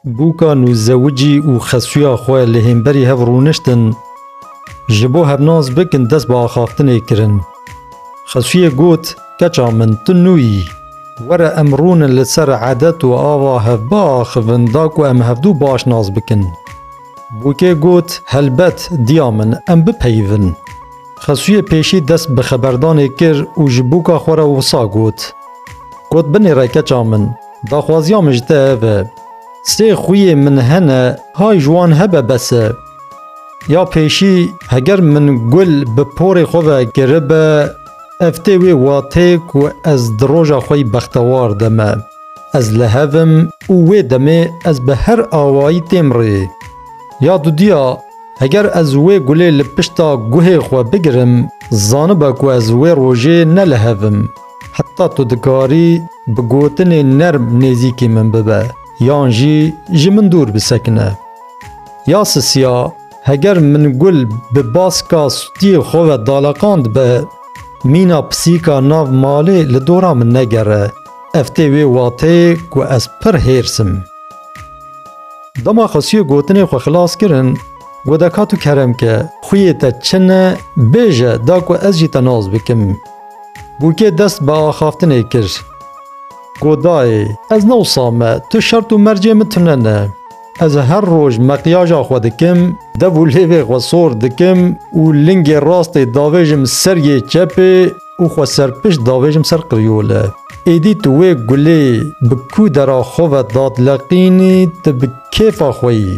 Bûkan û zewicî û xesuya xwe li hemberî hev rûniştin, ji bo hev nas bikin dest bi axaftinê kirin. Xesuyê got, Keça min, tu nû yî. Were em rûnin li ser edet û ava hev biaxivin da ku em hevdu baş nas bikin. Bûkê got, Helbet, diya min, em bipeyivin. Xesuyê pêşî dest bi xeberdanê kir û ji bûka xwe re wisa got. Got, Binêre keça min. Daxwaziya min ji te ev e. Sê xwîyê min hene hay ji wan hebe bes e. Ya pêşî heger min gul bi porê xwe ve kiribe ev tê wê watê ku ez di roja xwe yî bextewar de me. Ez li hev im û wê demê ez bi her awayî têm rê. Ya dudiya heger ez wê gulê li pişta guhê xwe bigirim zanibe ku ez wê rojê ne li hev im. Heta tu dikarî bi gotinê nerm nêzîkî min bibe yan jî ji min dûr bisekine. Ya Sisiya, heger min gul bi baska sûtiyê xwe ve daleqandbe, mîna pisîka nav malê li dora min negere, ev tê wê wateyê ku ez pir hêrs im. Dema xesûyê gotinê xwe xilas kirin, got Eka tu kerem ke, xwiyê te çi ne, bêje da ku ez jî te nas bikim. Bûkê dest bi axaftinê kir. Got dayê, ez ne wisa me, tu şert û mercê min tune ne. Ez her roj meqyaja xwe dikim, dev û lêvê xwe sor dikim û lingê rastê davêjim ser yê çepê û xwe serpişt davêjim ser qiryole. Êdî tu wê gulê bi kûdera xwe ve dadileqînî, tu bi kêfa xwe yî.